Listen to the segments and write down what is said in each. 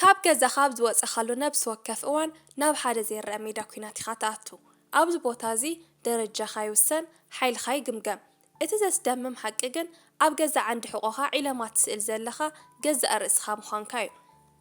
ካብ ገዛኻ ኣብ ዝወጸኻሉ ነብሲ ወከፍ እዋን ናብ ሓደ ዘይረኣ ሜዳ ኲናት ኢኻ ትኣቱ። ኣብዚ ቦታ እዚ ደረጃኻ ይውሰን፣ ሓይልኻ ይግምገም። እቲ ዘስደምም ሓቂ ግን ኣብ ገዛእ ዓንዲ ሕቖኻ ዒለማ ትስእል ዘለኻ ገዛእ ርእስኻ ምዃንካ እዩ።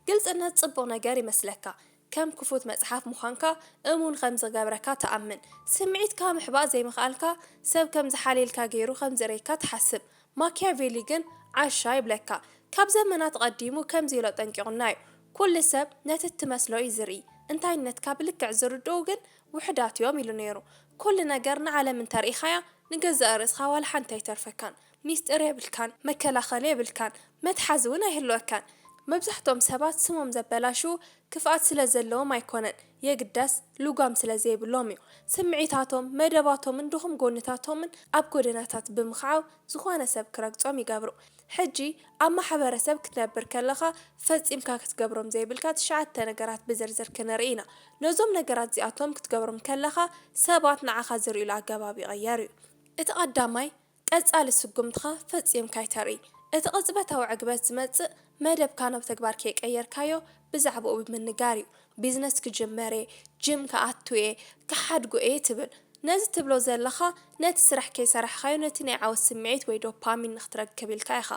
ግልጽነት ጽቡቕ ነገር ይመስለካ፣ ከም ክፉት መጽሓፍ ምዃንካ እሙን ከም ዝገብረካ ትኣምን። ስምዒትካ ምሕባእ ዘይምኽኣልካ ሰብ ከም ዝሓልየልካ ገይሩ ከም ዝርእየካ ትሓስብ። ማኪያቬሊ ግን ዓሻ ይብለካ ካብ ዘመናት ኣቐዲሙ ከምዚ ኢሎ ኣጠንቂቑና እዩ። ኩሉ ሰብ ነቲ እትመስሎ እዩ ዝርኢ፣ እንታይነትካ ብልክዕ ዝርድኡ ግን ውሑዳት እዮም ኢሉ ነይሩ። ኩሉ ነገር ንዓለም እንተርኢኻያ ንገዛእ ርእስኻ ዋላ ሓንቲ ኣይተርፈካን። ሚስጢር የብልካን፣ መከላኸሊ የብልካን፣ መትሓዚ እውን ኣይህልወካን። መብዛሕትኦም ሰባት ስሞም ዘበላሽዉ ክፍኣት ስለ ዘለዎም ኣይኮነን። የግዳስ ልጓም ስለ ዘይብሎም እዩ። ስምዒታቶም፣ መደባቶምን ድኹም ጎንታቶምን ኣብ ጎደናታት ብምኽዓው ዝኾነ ሰብ ክረግጾም ይገብሩ። ሕጂ ኣብ ማሕበረሰብ ክትነብር ከለኻ ፈጺምካ ክትገብሮም ዘይብልካ ትሽዓተ ነገራት ብዝርዝር ክንርኢ ኢና። ነዞም ነገራት እዚኣቶም ክትገብሮም ከለኻ ሰባት ንዓኻ ዝርእዩሉ ኣገባብ ይቕየር እዩ። እቲ ቀዳማይ ቀጻሊ ስጉምትኻ ፈጺምካ ኣይተርኢ። እቲ ቅጽበታዊ ዕግበት ዝመጽእ፣ መደብካ ናብ ተግባር ከይቀየርካዮ ብዛዕባኡ ብምንጋር እዩ። ቢዝነስ ክጅምር እየ፣ ጂም ክኣቱ እየ፣ ክሓድጎ እየ ትብል። ነዚ ትብሎ ዘለኻ፣ ነቲ ስራሕ ከይሰራሕካዮ ነቲ ናይ ዓወት ስምዒት ወይ ዶፓሚን ንኽትረክብ ኢልካ ኢኻ።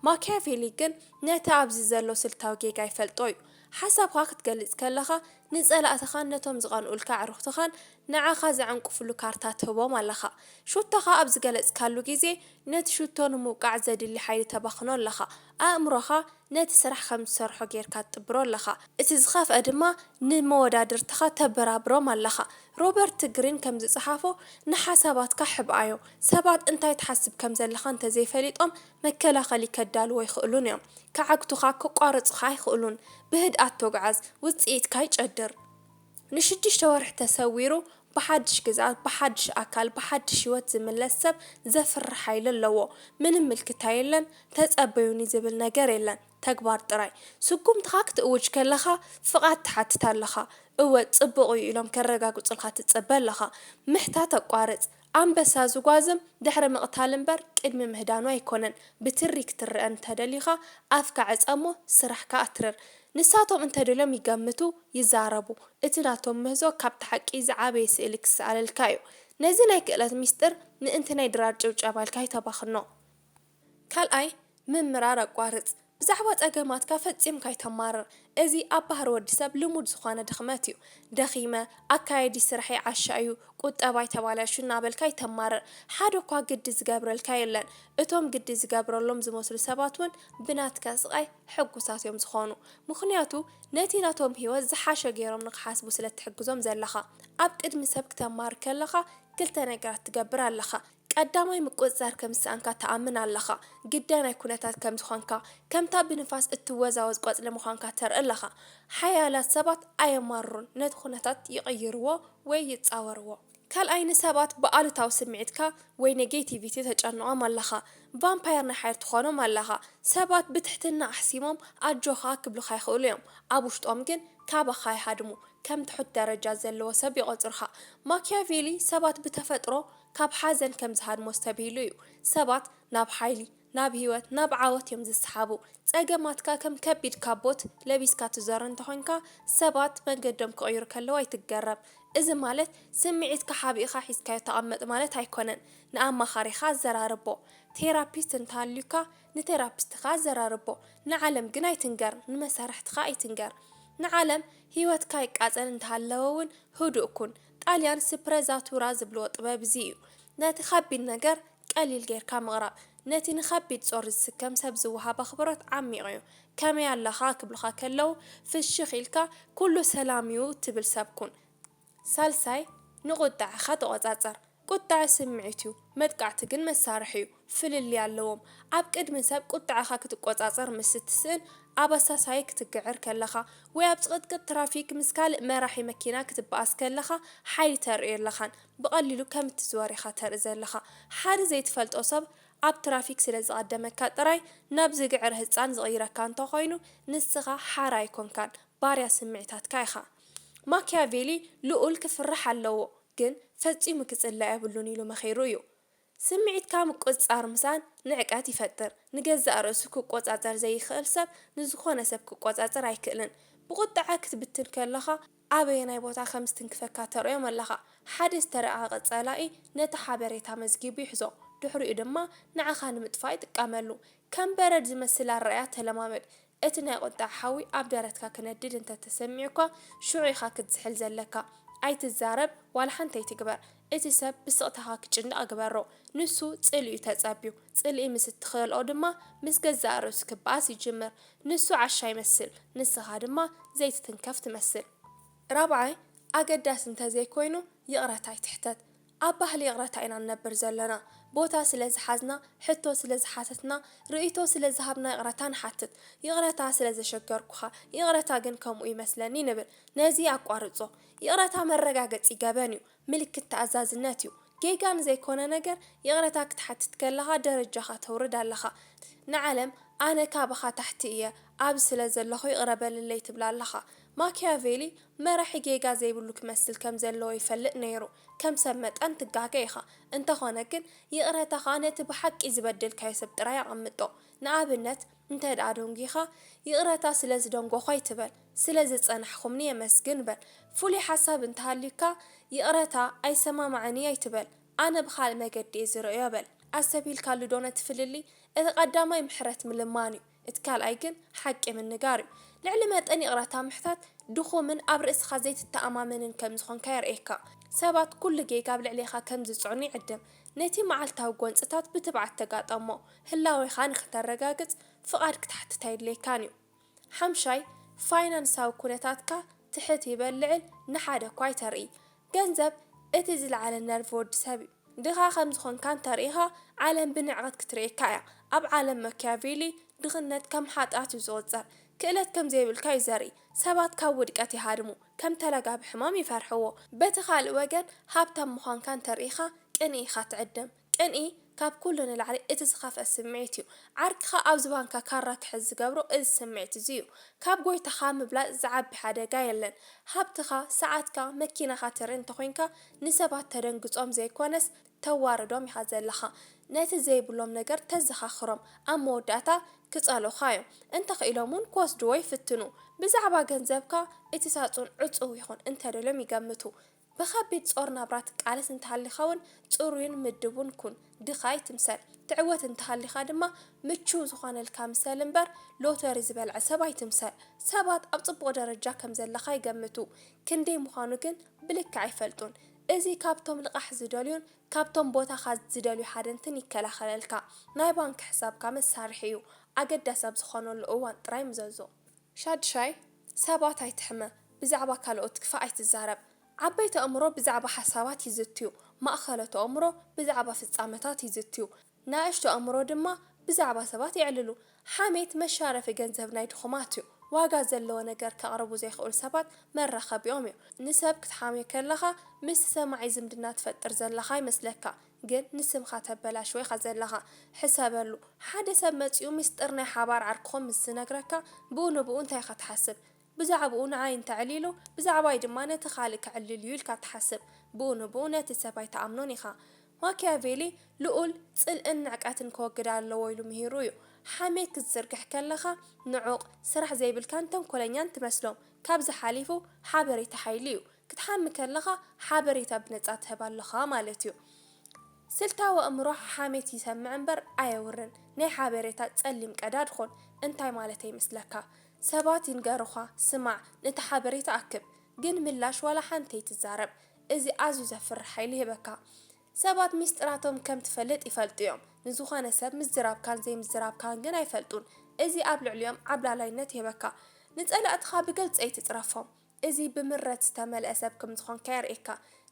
ማክያቬሊ ግን ነቲ ኣብዚ ዘሎ ስልታዊ ጌጋ ይፈልጦ እዩ። ሓሳብካ ክትገልጽ ከለኻ፣ ንጸላእትኻን ነቶም ዝቐንኡልካ ኣዕሩኽትኻን ንዓኻ ዝዕንቅፍሉ ካርታ ትህቦም ኣለኻ። ሹቶኻ ኣብ ዝገለጽካሉ ግዜ፣ ነቲ ሹቶ ንምውቃዕ ዘድሊ ሓይሊ ተባኽኖ ኣለኻ። ኣእምሮኻ ነቲ ስራሕ ከም ዝሰርሖ ጌርካ ትጥብሮ ኣለኻ። እቲ ዝኸፍኣ ድማ ንመወዳድርትኻ ተበራብሮም ኣለኻ። ሮበርት ግሪን ከም ዝጸሓፎ፣ ንሓሳባትካ ሕብኣዮ። ሰባት እንታይ ትሓስብ ከም ዘለኻ እንተ ዘይፈሊጦም፣ መከላኸሊ ከዳልዉ ኣይክእሉን እዮም። ክዓግቱኻ፣ ከቋርጹኻ ኣይክእሉን። ብህድኣት ተጕዓዝ። ውጽኢትካ ይጨድር። ንሽዱሽተ ወርሒ ተሰዊሩ ብሓድሽ ግዝኣት፣ ብሓድሽ ኣካል፣ ብሓድሽ ህይወት ዝምለስ ሰብ ዘፍርሕ ሓይሊ ኣለዎ። ምንም ምልክታ የለን፣ ተጸበዩኒ ዝብል ነገር የለን፣ ተግባር ጥራይ። ስጉምትኻ ክትእውጅ ከለኻ ፍቓድ ትሓትት ኣለኻ። እወ ጽቡቕ እዩ ኢሎም ከረጋግጹልካ ትጽበ ኣለኻ። ምሕታት ኣቋርጽ። ኣንበሳ ዝጓዝም ድሕሪ ምቕታል እምበር ቅድሚ ምህዳኑ ኣይኮነን። ብትሪ ክትረኣ እንተደሊኻ ኣፍካ ዕጸ እሞ ስራሕካ ኣትርር። ንሳቶም እንተደልዮም ይገምቱ፣ ይዛረቡ። እቲ ናቶም ምህዞ ካብቲ ሓቂ ዝዓበየ ስእሊ ክሰኣለልካ እዩ። ነዚ ናይ ክእለት ሚስጥር ምእንቲ ናይ ድራር ጭብጨባ ኢልካ ኣይተባኽኖ። ካልኣይ፣ ምምራር ኣቋርጽ። ብዛዕባ ጸገማትካ ፈጺምካ ኣይተማርር። እዚ ኣብ ባህሪ ወዲ ሰብ ልሙድ ዝኾነ ድኽመት እዩ። ደኺመ፣ ኣካያይዲ ስራሐይ ዓሻ እዩ፣ ቁጠባይ ተባላሽዩ እናበልካ ኣይተማርር። ሓደ እኳ ግዲ ዝገብረልካ የለን። እቶም ግዲ ዝገብረሎም ዝመስሉ ሰባት እውን ብናትካ ስቓይ ሕጉሳት እዮም ዝኾኑ። ምኽንያቱ ነቲ ናቶም ህይወት ዝሓሸ ገይሮም ንኽሓስቡ ስለ እትሕግዞም ዘለኻ። ኣብ ቅድሚ ሰብ ክተማርር ከለኻ ክልተ ነገራት ትገብር ኣለኻ። ቀዳማይ ምቁጽጻር ከም ዝሰኣንካ ትኣምን ኣለኻ። ግዳይ ናይ ኩነታት ከም ዝኾንካ፣ ከምታ ብንፋስ እትወዛወዝ ቆጽሊ ምዃንካ ተርኢ ኣለኻ። ሓያላት ሰባት ኣየማርሩን፣ ነቲ ኩነታት ይቕይርዎ ወይ ይጻወርዎ። ካልኣይ ንሰባት ብኣሉታዊ ስምዒትካ ወይ ኔጌቲቪቲ ተጨንቖም ኣለኻ። ቫምፓየር ናይ ሓይሊ ትኾኖም ኣለኻ። ሰባት ብትሕትና ኣሕሲሞም ኣጆኻ ክብሉኻ ይኽእሉ እዮም፣ ኣብ ውሽጦም ግን ካባኻ ይሃድሙ፣ ከም ትሑት ደረጃ ዘለዎ ሰብ ይቖጽሩኻ። ማክያቬሊ ሰባት ብተፈጥሮ። ካብ ሓዘን ከም ዝሃድሞ ኣስተብሂሉ እዩ። ሰባት ናብ ሓይሊ፣ ናብ ህይወት፣ ናብ ዓወት እዮም ዝሰሓቡ። ጸገማትካ ከም ከቢድ ካቦት ለቢስካ ትዞር እንተኾይንካ፣ ሰባት መንገዶም ክቕይሩ ከለዉ ኣይትገረም። እዚ ማለት ስምዒትካ ሓቢእኻ ሒዝካዮ ተቐመጥ ማለት ኣይኮነን። ንኣማኻሪኻ ኣዘራርቦ። ቴራፒስት እንተሃልዩካ ንቴራፒስትኻ ኣዘራርቦ። ንዓለም ግን ኣይትንገር፣ ንመሳርሕትኻ ኣይትንገር። ንዓለም ህይወትካ ይቃጸል እንተሃለወ'ውን ህዱእ ኩን። ጣልያን ስፕረዛቱራ ዝብልዎ ጥበብ እዚ እዩ። ነቲ ከቢድ ነገር ቀሊል ጌርካ ምቕራብ። ነቲ ንከቢድ ጾር ዝስከም ሰብ ዝወሃብ ኣኽብሮት ዓሚቕ እዩ። ከመይ ኣለኻ ክብሉኻ ከለዉ ፍሽኽ ኢልካ ኩሉ ሰላም እዩ ትብል ሰብ ኩን። ሳልሳይ፣ ንቁጠዐኻ ተቖጻጸር። ቁጠዐ ስምዒት እዩ፣ መጥቃዕቲ ግን መሳርሒ እዩ። ፍልልይ ኣለዎም። ኣብ ቅድሚ ሰብ ቁጥዐኻ ክትቆጻጸር ምስ እትስእን፣ ኣብ ኣሳሳዪ ክትግዕር ከለኻ፣ ወይ ኣብ ጽቕጥቅጥ ትራፊክ ምስ ካልእ መራሒ መኪና ክትበኣስ ከለኻ ሓይሊ ተርኢ የለኻን። ብቐሊሉ ከም እትዝወር ኢኻ ተርኢ ዘለኻ። ሓደ ዘይትፈልጦ ሰብ ኣብ ትራፊክ ስለ ዝቐደመካ ጥራይ ናብ ዝግዕር ህጻን ዝቕይረካ እንተ ኾይኑ፣ ንስኻ ሓራ ኣይኮንካን፣ ባርያ ስምዒታትካ ኢኻ። ማክያቬሊ ልኡል ክፍራሕ ኣለዎ፣ ግን ፈጺሙ ክጽላእ የብሉን ኢሉ መኺሩ እዩ። ስምዒትካ ምቁጽጻር ምሳን ንዕቀት ይፈጥር። ንገዛእ ርእሱ ክቆጻጸር ዘይክእል ሰብ ንዝኾነ ሰብ ክቆጻጸር ኣይክእልን። ብቑጥዐ ክትብትን ከሎኻ ኣበየናይ ቦታ ከም ዝትንክፈካ ተርእዮም ኣለኻ። ሓደ ዝተራቐቐ ጸላኢ ነቲ ሓበሬታ መዝጊቡ ይሕዞ፣ ድሕሪኡ ድማ ንዓኻ ንምጥፋእ ይጥቀመሉ። ከም በረድ ዝመስል ኣረኣእያ ተለማመድ። እቲ ናይ ቁጥዐ ሓዊ ኣብ ደረትካ ክነድድ እንተ ተሰሚዑካ ሽዑ ኢኻ ክትዝሕል ዘለካ። ኣይትዛረብ ዋላ ሓንቲ ኣይትግበር። እቲ ሰብ ብስቕታኻ ክጭነቕ ግበሮ። ንሱ ጽልኢ'ዩ ተጸብዩ። ጽልኢ ምስ እትኸልኦ ድማ ምስ ገዛእ ርእሱ ክበኣስ ይጅምር። ንሱ ዓሻ ይመስል ንስኻ ድማ ዘይትትንከፍ ትመስል። ራብዓይ ኣገዳሲ እንተ ዘይኮይኑ ይቕረታ ኣይትሕተት። ኣብ ባህሊ ይቕረታ ኢና ንነብር ዘለና። ቦታ ስለ ዝሓዝና፣ ሕቶ ስለ ዝሓተትና፣ ርእይቶ ስለ ዝሃብና ይቕረታ ንሓትት። ይቕረታ ስለ ዘሸገርኩኻ፣ ይቕረታ ግን ከምኡ ይመስለኒ ንብል። ነዚ ኣቋርጾ። ይቕረታ መረጋገጺ ገበን እዩ። ምልክት ተኣዛዝነት እዩ። ጌጋ ንዘይኮነ ነገር ይቕረታ ክትሓትት ከለኻ ደረጃኻ ተውርድ ኣለኻ። ንዓለም ኣነ ካብኻ ታሕቲ እየ ኣብዚ ስለ ዘለኹ ይቕረ በልለይ ትብላ ኣለኻ። ማክያቬሊ መራሒ ጌጋ ዘይብሉ ክመስል ከም ዘለዎ ይፈልጥ ነይሩ ከም ሰብ መጠን ትጋገ ኢኻ እንተኾነ ግን ይቕረታኻ ነቲ ብሓቂ ዝበደልካዮ ሰብ ጥራይ ኣቐምጦ ንኣብነት እንተድኣ ደንጒኻ ይቕረታ ስለ ዝደንጎኹ ኣይትበል ስለ ዘጸናሕኩምኒ የመስግን በል ፍሉይ ሓሳብ እንተሃልዩካ ይቕረታ ኣይሰማማዕን ኢዩ ኣይትበል ኣነ ብኻልእ መገዲ ኢየ ዝርእዮ በል ኣስተብሂልካሉዶ ነቲ ፍልልይ እቲ ቀዳማይ ምሕረት ምልማን ኢዩ እቲ ካልኣይ ግን ሓቂ ምንጋር እዩ። ልዕሊ መጠን ይቕረታ ምሕታት ድኹምን ኣብ ርእስኻ ዘይትተኣማመንን ከም ዝኾንካ የርእየካ። ሰባት ኩሉ ጌጋ ኣብ ልዕሌኻ ከም ዝጽዕኑ ይዕድም። ነቲ መዓልታዊ ጎንጽታት ብትብዓት ተጋጠሞ። ህላዌኻ ንኽተረጋግጽ ፍቓድ ክትሓትት ኣየድልየካን እዩ። ሓምሻይ፣ ፋይናንሳዊ ኩነታትካ ትሕት ይበል ልዕል ንሓደ እኳ ኣይተርኢ። ገንዘብ እቲ ዝለዓለ ነርቭ ወዲ ሰብ እዩ። ድኻ ከም ዝኾንካ እንተርኢኻ ዓለም ብንዕቐት ክትርእየካ እያ። ኣብ ዓለም መክያቬሊ ድኽነት ከም ሓጥያት እዩ ዝቑጸር። ክእለት ከም ዘይብልካ እዩ ዘርኢ። ሰባት ካብ ውድቀት ይሃድሙ፣ ከም ተላጋቢ ሕማም ይፈርሕዎ። በቲ ካልእ ወገን ሃብታም ምዃንካ እንተርኢኻ ቅንኢ ኢኻ ትዕድም። ቅንኢ ካብ ኩሉ ንላዕሊ እቲ ዝኸፍኣ ስምዒት እዩ። ዓርክኻ ኣብ ዝባንካ ካራ ክሕዝ ዝገብሮ እዚ ስምዒት እዚ እዩ። ካብ ጎይታኻ ምብላጽ ዝዓቢ ሓደጋ የለን። ሃብትኻ፣ ሰዓትካ፣ መኪናኻ ትርኢ እንተኾይንካ ንሰባት ተደንግጾም ዘይኮነስ ተዋርዶም ኢኻ ዘለኻ ነቲ ዘይብሎም ነገር ተዘኻኽሮም ኣብ መወዳእታ ክጸልኡኻ እዮም እንተ ኽኢሎም ውን ክወስድዎ ይፍትኑ ብዛዕባ ገንዘብካ እቲ ሳጹን ዕጹው ይኹን እንተ ደልዮም ይገምቱ ብኸቢድ ጾር ናብራ ትቃለስ እንተ ሃሊኻ ውን ጽሩይን ምድቡን ኩን ድኻ ኣይትምሰል ትዕወት እንተ ሃሊኻ ድማ ምቹው ዝኾነልካ ምሰል እምበር ሎተሪ ዝበልዐ ሰብ ኣይትምሰል ሰባት ኣብ ጽቡቕ ደረጃ ከም ዘለኻ ይገምቱ ክንደይ ምዃኑ ግን ብልክዕ ኣይፈልጡን። እዚ ካብቶም ልቓሕ ዝደልዩን ካብቶም ቦታኻ ዝደልዩ ሃደንትን ይከላኸለልካ። ናይ ባንክ ሕሳብካ መሳርሒ እዩ፣ ኣገዳሲ ኣብ ዝኾነሉ እዋን ጥራይ ምዘዞ። ሻዱሻይ፣ ሰባት ኣይትሕመ፣ ብዛዕባ ካልኦት ክፋእ ኣይትዛረብ። ዓበይቲ ኣእምሮ ብዛዕባ ሓሳባት ይዝትዩ፣ ማእከሎት ኣእምሮ ብዛዕባ ፍጻመታት ይዝትዩ። ናእሽቱ ኣእምሮ ድማ ብዛዕባ ሰባት የዕልሉ። ሓሜት መሻረፊ ገንዘብ ናይ ድኹማት እዩ። ዋጋ ዘለዎ ነገር ከቕርቡ ዘይክእሉ ሰባት መራኸቢኦም እዩ። ንሰብ ክትሓምዮ ከለኻ ምስቲ ሰማዒ ዝምድና ትፈጥር ዘለኻ ይመስለካ ግን ንስምካ ተበላሽዎ ኢኻ ዘለኻ። ሕሰበሉ፣ ሓደ ሰብ መጺኡ ምስጢር ናይ ሓባር ዓርክኹም ምስ ዝነግረካ ብኡ ንብኡ እንታይ ኢኻ ትሓስብ? ብዛዕብኡ ንዓይ እንተዕሊሉ፣ ብዛዕባይ ድማ ነቲ ካልእ ከዕልል'ዩ ኢልካ ትሓስብ። ብኡ ንብኡ ነቲ ሰብ ኣይትኣምኖን ኢኻ። ማክያቬሊ፣ ልኡል ጽልእን ንዕቀትን ከወግድ ኣለዎ ኢሉ ምሂሩ እዩ። ሓሜት ክትዝርግሕ ከለኻ ንዑቕ፣ ስራሕ ዘይብልካን ተንኮለኛን ትመስሎም። ካብዚ ሓሊፉ፣ ሓበሬታ ሓይሊ እዩ። ክትሓሚ ከለኻ ሓበሬታ ብነጻ ትህብ ኣሎኻ ማለት እዩ። ስልታዊ ኣእምሮ ሓሜት ይሰምዕ እምበር ኣየውርን። ናይ ሓበሬታ ጸሊም ቀዳድ ኹን። እንታይ ማለተይ ይመስለካ? ሰባት ይንገሩኻ ስማዕ ነቲ ሓበሬታ ኣክብ ግን ምላሽ ዋላ ሓንቲ ኣይትዛረብ እዚ ኣዝዩ ዘፍርሕ ሓይሊ ይህበካ ሰባት ሚስጥራቶም ከም ትፈልጥ ይፈልጡ እዮም ንዝኾነ ሰብ ምዝራብካን ዘይምዝራብካን ግን ኣይፈልጡን እዚ ኣብ ልዕሊኦም ዓብላላይነት ይህበካ ንጸላእትኻ ብግልጺ ኣይትጽረፎም እዚ ብምረት ዝተመልኣ ሰብ ክም ዝኾንካ የርእየካ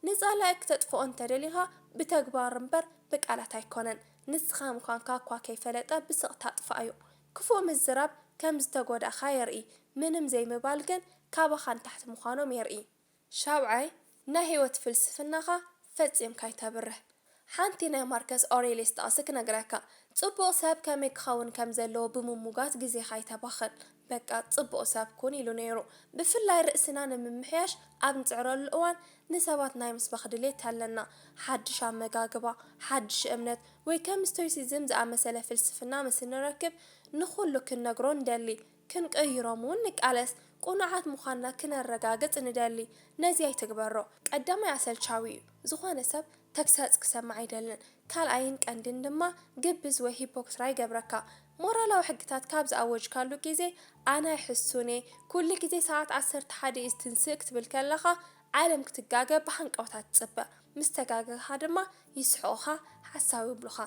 ንጻላኢ ክተጥፍኦ እንተ ደሊኻ ብተግባር እምበር ብቃላት ኣይኮነን ንስኻ ምዃንካ እኳ ከይፈለጠ ብስቕታ ጥፋኣዮ ክፉእ ምዝራብ ከም ዝተጎዳእካ የርኢ ምንም ዘይምባል ግን ካባኻ ንታሕቲ ምዃኖም የርኢ። ሻብዓይ ናይ ህይወት ፍልስፍናኻ ፈጺምካ ኣይተብርህ። ሓንቲ ናይ ማርከስ ኦሬልየስ ጥቕሲ ክነግረካ፣ ጽቡቕ ሰብ ከመይ ክኸውን ከም ዘለዎ ብምሙጋት ግዜኻ ኣይተባኽን። በቃ ጽቡቕ ሰብ ኩን ኢሉ ነይሩ። ብፍላይ ርእስና ንምምሕያሽ ኣብ ንጽዕረሉ እዋን ንሰባት ናይ ምስባኽ ድሌት ኣለና፣ ሓድሽ ኣመጋግባ፣ ሓድሽ እምነት፣ ወይ ከም ስቶይሲዝም ዝኣመሰለ ፍልስፍና ምስ እንረክብ፣ ንኹሉ ክንነግሮ ንደሊ። ክንቅይሮም እውን ንቃለስ። ቅኑዓት ምዃንና ክነረጋግጽ ንደሊ። ነዚ ኣይትግበሮ። ቀዳማይ ኣሰልቻዊ እዩ። ዝኾነ ሰብ ተግሳጽ ክሰምዕ ኣይደልን። ካልኣይን ቀንዲን ድማ ግብዝ ወይ ሂፖክትራ ይገብረካ። ሞራላዊ ሕግታት ካብ ዝኣወጅካሉ ግዜ ኣነ ሕሱን'የ፣ ኩሉ ግዜ ሰዓት ዓሰርተ ሓደ እዩ ዝትንስእ ክትብል ከለኻ ዓለም ክትጋገ ብሃንቀውታ ትጽበ። ምስ ተጋገኻ ድማ ይስሕቑኻ፣ ሓሳዊ ይብሉኻ።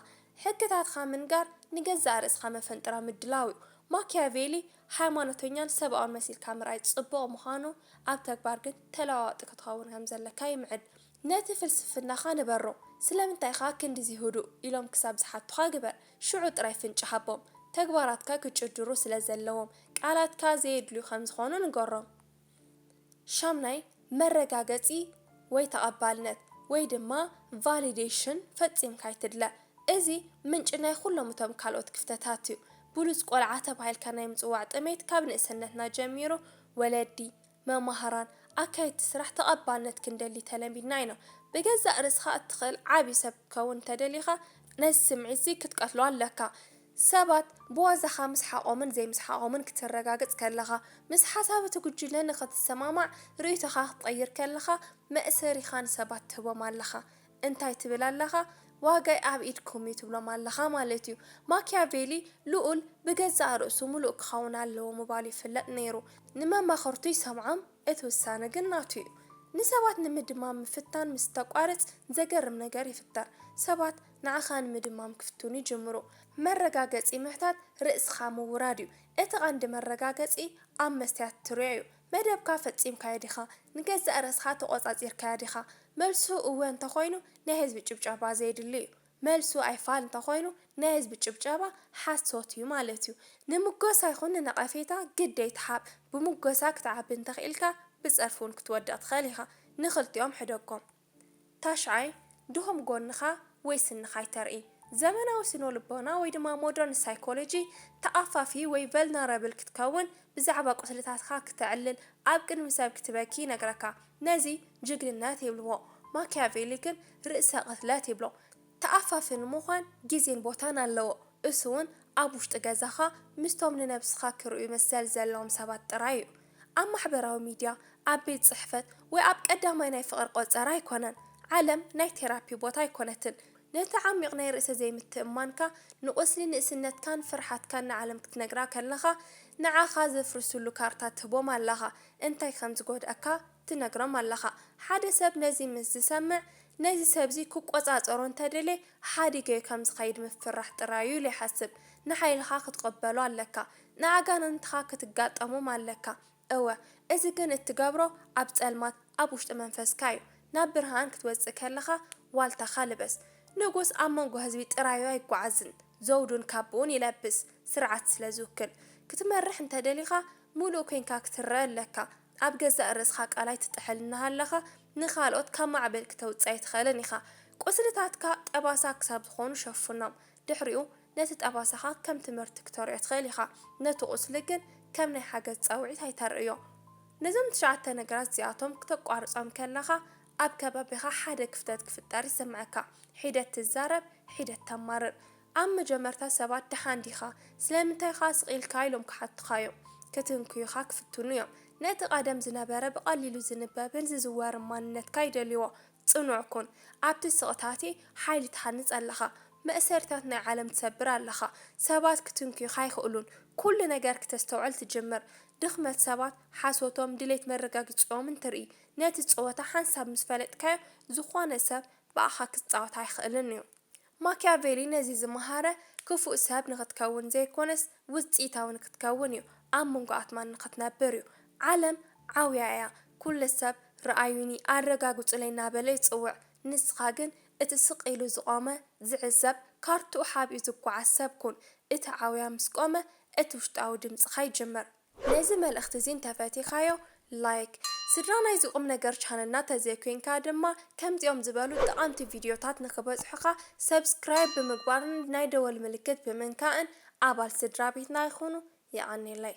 ሕግታትካ ምንጋር ንገዛእ ርእስኻ መፈንጥራ ምድላው'ዩ። ማክያቬሊ ሃይማኖተኛን ሰብኣውን መሲልካ ምርኣይ ጽቡቕ ምዃኑ ኣብ ተግባር ግን ተለዋዋጢ ክትኸውን ከም ዘለካ ይምዕድ። ነቲ ፍልስፍናኻ ንበሮ፣ ስለምንታይ ኢኻ ክንድዚ ህዱእ? ኢሎም ክሳብ ዝሓቱኻ ግበር። ሽዑ ጥራይ ፍንጭ ሃቦም። ተግባራትካ ክጭድሩ ስለ ዘለዎም፣ ቃላትካ ዘየድልዩ ከም ዝዀኑ ንገሮም። ሻምናይ፣ መረጋገጺ ወይ ተቐባልነት፣ ወይ ድማ ቫሊደሽን ፈጺምካ ኣይትድለ። እዚ ምንጪ ናይ ኵሎም እቶም ካልኦት ክፍተታት እዩ። ብሉጽ ቈልዓ ተባሂልካ ናይ ምጽዋዕ ጥሜት ካብ ንእስነትና ጀሚሩ ወለዲ፣ መማህራን፣ ኣካየድቲ ስራሕ ተቐባልነት ክንደሊ ተለሚድና ኢና። ብገዛእ ርእስኻ እትኽእል ዓቢ ሰብ ክትከውን እንተደሊኻ ነዚ ስምዒት'ዚ ክትቀትሎ ኣለካ። ሰባት ብዋዛኻ ምስሓቖምን ዘይምስሓቖምን ክትረጋግጽ ከለኻ፣ ምስ ሓሳብ እቲ ጉጅለ ንኽትሰማማዕ ርእይቶኻ ክትቐይር ከለኻ፣ መእሰሪኻ ንሰባት ትህቦም ኣለኻ። እንታይ ትብል ኣለኻ ዋጋይ ኣብ ኢድኩም እዩ ትብሎም ኣለኻ ማለት እዩ። ማኪያቬሊ ልኡል ብገዛእ ርእሱ ምሉእ ክኸውን ኣለዎ ምባሉ ይፍለጥ ነይሩ። ንመማኽርቱ ይሰምዖም፣ እቲ ውሳነ ግን ናቱ እዩ። ንሰባት ንምድማም ምፍታን ምስ እተቋርጽ ዘገርም ነገር ይፍጠር። ሰባት ንዓኻ ንምድማም ክፍትኑ ይጅምሩ። መረጋገጺ ምሕታት ርእስኻ ምውራድ እዩ። እቲ ቀንዲ መረጋገጺ ኣብ መስትያት ትርእዮ እዩ። መደብካ ፈጺምካዮ ዲኻ? ንገዛእ ርእስኻ ተቖጻጺርካያ ዲኻ? መልሱ እወ እንተኾይኑ ናይ ህዝቢ ጭብጨባ ዘየድሊ'ዩ። መልሱ ኣይፋል እንተኾይኑ ናይ ህዝቢ ጭብጨባ ሓሶት'ዩ ማለት'ዩ። ንምጎሳ ይኹን ንነቐፌታ ግድ ኣይትሓብ። ብሙጎሳ ክትዓቢ እንተኽኢልካ ብጸርፊ'ውን ክትወድቕ ትኽእል ኢኻ። ንኽልቲኦም ሕደጎም። ታሽዓይ፣ ድኹም ጎንኻ ወይ ስንኻ ኣይተርኢ። ዘመናዊ ስነልቦና ወይ ድማ ሞደርን ሳይኮሎጂ፣ ተኣፋፊ ወይ ቨልነረብል ክትከውን፣ ብዛዕባ ቁስልታትካ ክተዕልል፣ ኣብ ቅድሚ ሰብ ክትበኪ ይነግረካ። ነዚ ጅግንነት ይብልዎ። ማኪያቬሊ ግን ርእሰ ቅትለት ይብሎ። ተኣፋፊ ንምዃን ግዜን ቦታን ኣለዎ፣ እሱውን ኣብ ውሽጢ ገዛኻ ምስቶም ንነብስኻ ክርእዩ መሰል ዘለዎም ሰባት ጥራይ እዩ። ኣብ ማሕበራዊ ሚድያ፣ ኣብ ቤት ጽሕፈት፣ ወይ ኣብ ቀዳማይ ናይ ፍቕሪ ቆጸራ ኣይኮነን። ዓለም ናይ ቴራፒ ቦታ ኣይኮነትን። ነቲ ዓሚቕ ናይ ርእሰ ዘይምትእምማንካ፣ ንቁስሊ ንእስነትካን ፍርሓትካን ንዓለም ክትነግራ ከለኻ፣ ንዓኻ ዘፍርስሉ ካርታ ትህቦም ኣለኻ። እንታይ ከም ዝጎድኣካ ትነግሮም ኣለኻ። ሓደ ሰብ ነዚ ምስ ዝሰምዕ፣ ነዚ ሰብዚ ክቆጻጸሮ እንተ ደልየ፣ ሓዲገዮ ከም ዝኸይድ ምፍርራሕ ጥራይ'ዩ ኢሉ ይሓስብ። ንሓይልኻ ክትቕበሎ ኣለካ። ንኣጋንንትኻ ክትጋጠሞም ኣለካ እወ እዚ ግን እትገብሮ ኣብ ጸልማት ኣብ ውሽጢ መንፈስካ እዩ ናብ ብርሃን ክትወጽእ ከለኻ ዋልታኻ ልበስ ንጉስ ኣብ መንጎ ህዝቢ ጥራዩ ኣይጓዓዝን ዘውዱን ካቡኡን ይለብስ ስርዓት ስለ ዝውክል ክትመርሕ እንተ ደሊኻ ሙሉእ ኮንካ ክትረእ ኣለካ ኣብ ገዛእ ርእስኻ ቃላይ ትጥሕል እናሃለኻ ንኻልኦት ካብ ማዕበል ክተውጽእ ኣይትኽእልን ኢኻ ቁስልታትካ ጠባሳ ክሳብ ዝኾኑ ሸፍኖም ድሕሪኡ ነቲ ጠባሳኻ ከም ትምህርቲ ክተርእዮ ትኽእል ኢኻ፣ ነቲ ቁስሊ ግን ከም ናይ ሓገዝ ጻውዒት ኣይተርእዮ። ነዞም ትሽዓተ ነገራት እዚኣቶም ክተቋርጾም ከለኻ፣ ኣብ ከባቢኻ ሓደ ክፍተት ክፍጠር ይስምዓካ። ሒደት ትዛረብ፣ ሒደት ተማርር። ኣብ መጀመርታ ሰባት ደሓን ዲኻ? ስለምንታይ ኸኣ ስቕ ኢልካ? ኢሎም ክሓቱኻ እዮም። ክትንክዩኻ ክፍትኑ እዮም። ነቲ ቀደም ዝነበረ ብቐሊሉ ዝንበብን ዝዝወርን ማንነትካ ይደልይዎ። ጽኑዕ ኩን፣ ኣብቲ ስቕታ'ቲ ሓይሊ ትሃንጽ ኣለኻ፣ መእሰሪታት ናይ ዓለም ትሰብር ኣለኻ፣ ሰባት ክትንክዩኻ ኣይክእሉን፣ ኩሉ ነገር ክተስተውዕል ትጅምር፣ ድኽመት ሰባት፣ ሓሶቶም፣ ድሌት መረጋጊጽኦምን ትርኢ፣ ነቲ ጸወታ ሓንሳብ ምስ ፈለጥካዮ፣ ዝኾነ ሰብ ብኣኻ ክጻወት ኣይክእልን'ዩ። ማክያቬሊ ነዚ ዝመሃረ፣ ክፉእ ሰብ ንኽትከውን ዘይኰነስ ውጽኢታዊ ንኽትከውን እዩ፣ ኣብ መንጎ ኣትማን ንኽትነብር እዩ። ዓለም ዓውያ እያ፣ ኵሉ ሰብ ርኣዩኒ፣ ኣረጋግጹለይ እናበለ ይጽውዕ፣ ንስኻ ግን እቲ ስቕ ኢሉ ዝቖመ፣ ዝዕዘብ፣ ካርታኡ ሓቢኡ ዝጓዓዝ ሰብ ኩን። እቲ ዓውያ ምስ ቈመ፣ እቲ ውሽጣዊ ድምጽኻ ይጅምር። ነዚ መልእኽቲ እዚ እንተፈቲኻዮ ላይክ። ስድራ ናይዚ ቁምነገር ቻነልና ተዘይኮይንካ ድማ ከምዚኦም ዝበሉ ጠቓምቲ ቪድዮታት ንኽበጽሑኻ ሰብስክራይብ ብምግባርን ናይ ደወል ምልክት ብምንካእን ኣባል ስድራቤትና ይኹኑ። የቐኔለይ።